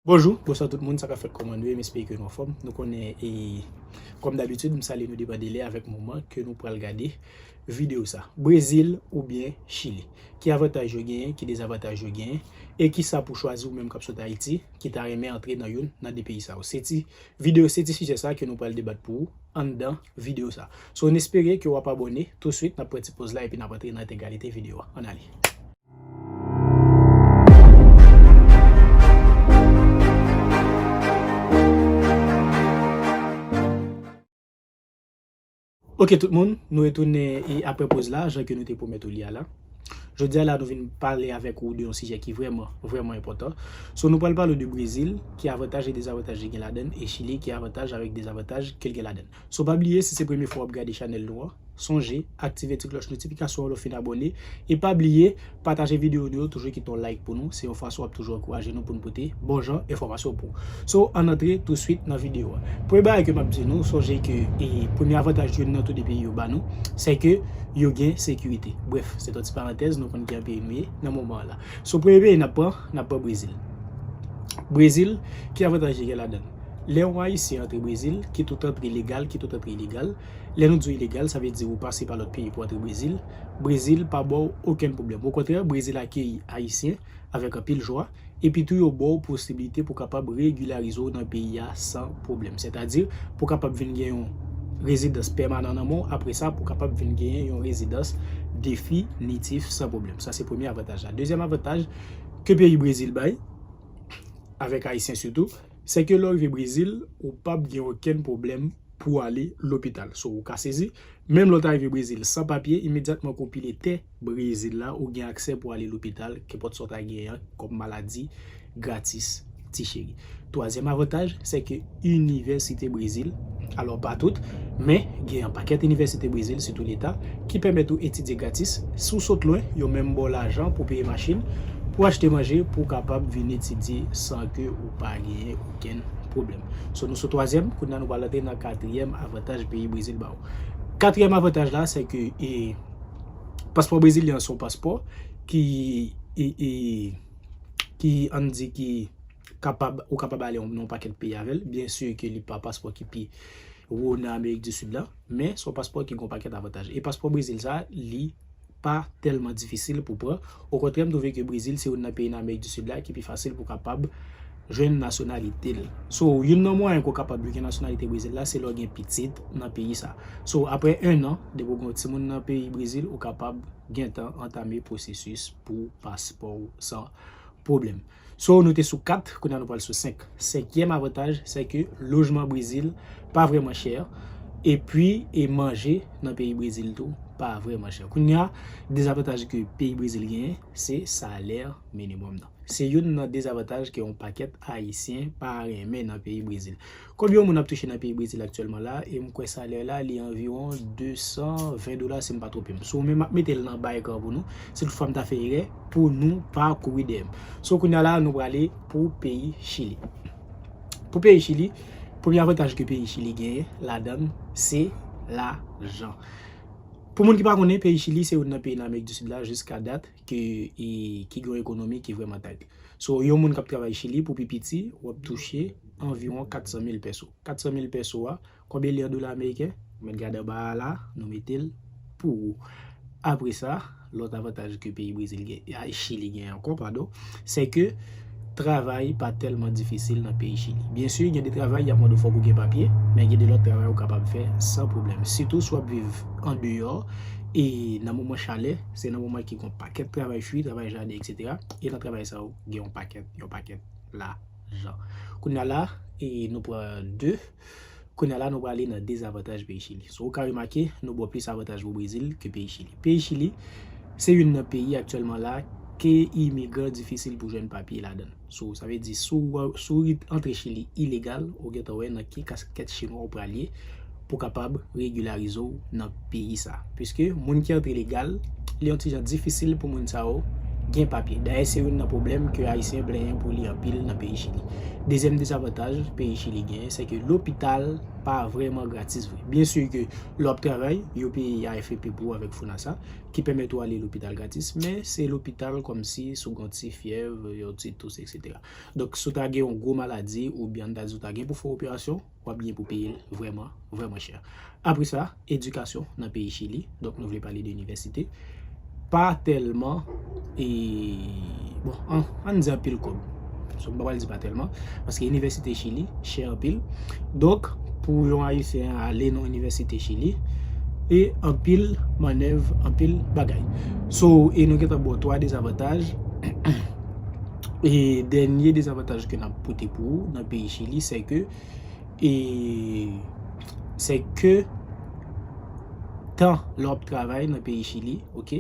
Bonjou, bonswa tout moun, sa kap fèt kòman nou ye, m espere ke nou anfòm, nou konnen e kòm dabitid m salye nou depan delè avèk moman ke nou pral gade video sa. Brezil oubyen Chili? Ki avantaj yo genyen, ki dezavantaj yo genyen, e kisa pou chwazi ou menm kap sot Ayiti ki ta renmen antre nan youn nan 2 peyi sa yo? Se ti video, se ti sijè sa ke nou pral debat pou ou anndan video sa. So n espere ke wap abòne, touswit nap pran ti poz la epi nap antre nan entegralite video a, ann ale. Ok tout moun, nou retounen e apre poz la, jan ke nou te pwomèt ou li a la. Jodi a la nou vin pale avèk ou de yon sijè ki vrèman, vrèman enpòtan. So nou pral pale ou de Brezil, ki avantaj e dezavantaj li gen ladan, e Chili ki avantaj avèk dezavantaj ke l gen ladan. So pa bliye si se premye fwa wap gade chanèl nou an, sonje aktive ti klòch notifikasyon an lè w fin abòne e pa bliye pataje videyo nou yo toujou kite yon like pou nou se yon fason wap toujou ankouraje nou pou nou pote bon jan enfòmasyon pou So ann antre touswit nan videyo a. Premye bagay ke map di nou sonje ke e premye avantaj youn nan tou 2 peyi yo ba nou se ke yo gen sekirite brèf se t yon ti parantèz nou konn ki jan peyi nou ye nan moman an la. So premye peyi nap pran nap pran Brezil Brezil ki avantaj li gen ladan l? Lè yon Ayisyen antre Brezil, kit ou t antre legal, kit ou t antre ilegal, lè nou di w ilegal, sa vle di ou pase pa lòt peyi pou antre Brezil, Brezil pa ba w okenn pwoblèm. Okontrè, Brezil akeyi Ayisyen avèk anpil jwa, epi tou yo ba w posiblite pou kapab regilarize w nan peyi a san pwoblèm. Sètadi, pou kapab vin gen yon rezidans pèmanan nan men w, apre sa pou kapab vin genyen yon rezidans definitif san pwoblèm. Sa se premye avantaj la. Dezyèm avantaj ke peyi Brezil bay. avèk Ayisyen sitou, se ke lè w rive Brezil, ou p ap gen okenn pwoblèm pou w ale lopital. So, ou ka sezi, menm lè w ta rive Brezil san papye, imedyatman ke w pile tè Brezil la, ou gen aksè pou w ale lopital, kenpòt sa w ta genyen kòm maladi, gratis, ti cheri. Twazyèm avantaj, se ke. Inivèsite Brezil, alò pa tout, men gen yon pakèt inivèsite Brezil, sitou leta, ki pèmèt ou etidye gratis, si w sot lwen, yo menm ba w lajan pou w peye machin, pou w achte manje, pou w kapab vin etidye san ke ou pa genyen okenn pwoblèm. So nou sou twazyèm, kounye a nou pral antre nan katriyèm avantaj peyi Brezil ba w. Katriyèm avantaj la, se ke e paspò brezilyen an se yon paspò ki e e ki an n di ki. kapab, ou kapab ale nan yon pakèt peyi avè l, byen si ke li pa paspò ki pi wo nan Amerik di Sid la, men son paspò ki gen yon pakèt avantaj. E paspò Brezil sa, li pa tèlman difisil pou pran, okontrè m twouve ke Brezil se youn nan peyi nan Amerik di Sid la ki pi fasil pou kapab jwenn nasyonalite l. So, youn nan mwayen ke w kapab jwenn nasyonalite Brezil la, se lè w gen pitit nan peyi sa. So, aprè ennan, depi w gen yon timoun nan peyi Brezil, ou kapab gentan antame pwosesis pou paspò w san pwoblèm. So nou te sou 4, kounye a nou pral sou 5. Senkyèm avantaj sè ke lojman Brezil pa vrèman chè. Epi e manje nan peyi Brezil tou pa vrèman chè. Kounye a dezavantaj ke peyi Brezil genyen se salè minimòm nan. Se youn nan dezavantaj ke yon pakèt Ayisyen pa renmen nan peyi Brezil. Konbyen yon moun ap touche nan peyi Brezil aktyèlman la, e m kwè salè la li anviwon 220 dola si m pa twonpe m. Sou men m ap mete l nan ba ekran pou nou, si tout fwa m ta fè erè, pou nou pa kouri dèyè m. Sou kounya la nou prale pou peyi Chili. Pou peyi Chili, premye avantaj ke peyi Chili genyen ladan l, se lajan. Pou moun ki pa konnen, peyi Chili se youn nan peyi nan Amerik di Sid la jiska dat. ke e ki gen yon ekonomi ki vrèman tayt. So yon moun k ap travay Chili pou pi piti w ap touche anviwon 400 mil pèso. 400 mil pèso a, konbyen li an dola ameriken? Ou mèt gade anba a la, nou mete l pou ou. Apre sa, lòt avantaj ke peyi Brezil gen, Chili gen ankò, padon, se ke. Travay pa tèlman difisil nan peyi Chili. Byen si, gen de travay y ap mande w fòk ou gen papye, men gen de lòt travay ou kapab fè san pwoblèm. Sitou si w ap viv andeyò e nan moman chalè, se nan moman ki gen yon pakèt travay fwi, travay jaden eksetera. E nan travay sa yo, gen yon pakèt, yon pakèt lajan. Kounye a la, nou pran de. Kounya la nou prale nan dezavantaj peyi Chili. So ou ka remake, nou bo plis avantaj pou Brezil ke peyi Chili. Peyi Chili, se youn nan peyi aktyèlman la ke imigran difisil pou jwenn papye ladan l. So sa vle di si w si w antre Chili ilegal, ou gentan wè nan ki kaskèt chinwa ou pral ye pou kapab regilarize w nan peyi sa. Piske moun ki antre legal, li yon ti jan difisil pou moun sa yo gen papye. Dayè se youn nan pwoblèm ke Ayisyen plenyen pou li anpil nan peyi Chili. Dezyèm dezavantaj peyi Chili genyen, se ke lopital pa vrèman gratis vre. Byen si ke lè w ap travay, yo peye AFP pou ou avèk FONASA, ki pèmèt ou ale lopital gratis, men se lopital kòmsi si w gen yon ti fyèv, yon ti tous, eksetera. Donk, si w ta gen yon gwo maladi, oubyen an n ta di w ta gen pou fè yon operasyon, wap gen pou peyel vrèman vrèman chè. Apre sa, edikasyon nan peyi Chili, donk nou vle pale de inivèsite, pa tèlman e bon an an di anpil kòb, so m pa pral di pa tèlman, paske inivèsite Chili chè anpil, donk pou yon ayisyen ale nan inivèsite Chili e anpil manèv, anpil bagay. So e nou gentan ba w 3 dezavantaj. E dènye dezavantaj ke nap pote pou ou nan peyi chili se ke e se ke tan lè wap travay nan peyi chili ok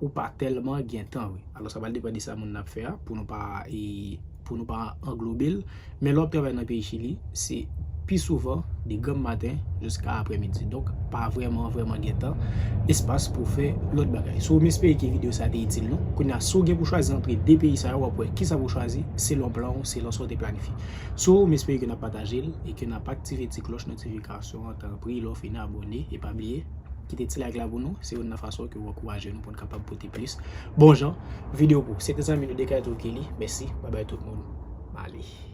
ou pa tèlman gen tan wi alò sa pral depan de sa moun nan ap fè a pou nou pa e pou nou pa anglobel. Men lè w ap travay nan peyi Chili, se pi souvan de granm maten jiska aprè midi. Donk, pa vrèman vrèman gen tan, espas pou w fè lòt bagay. Si w espere ke videyo sa te itil nou, kounye a, si w gen pou w chwazi antre de peyi sa yo, w ap wè kisa pou w chwazi selon plan ou, selon sa w te planifye. Si w espere ke n ap pataje l e ke n ap aktive ti klòch notifikasyon an, tanpri lè w fini abòne e pa bliye kite ti like la pou nou. Se youn nan fason ke w ankouraje nou pou n. kapab pote plis bon jan video pou se te zanmi nou de kay tokili mèsi babay tout moun bali.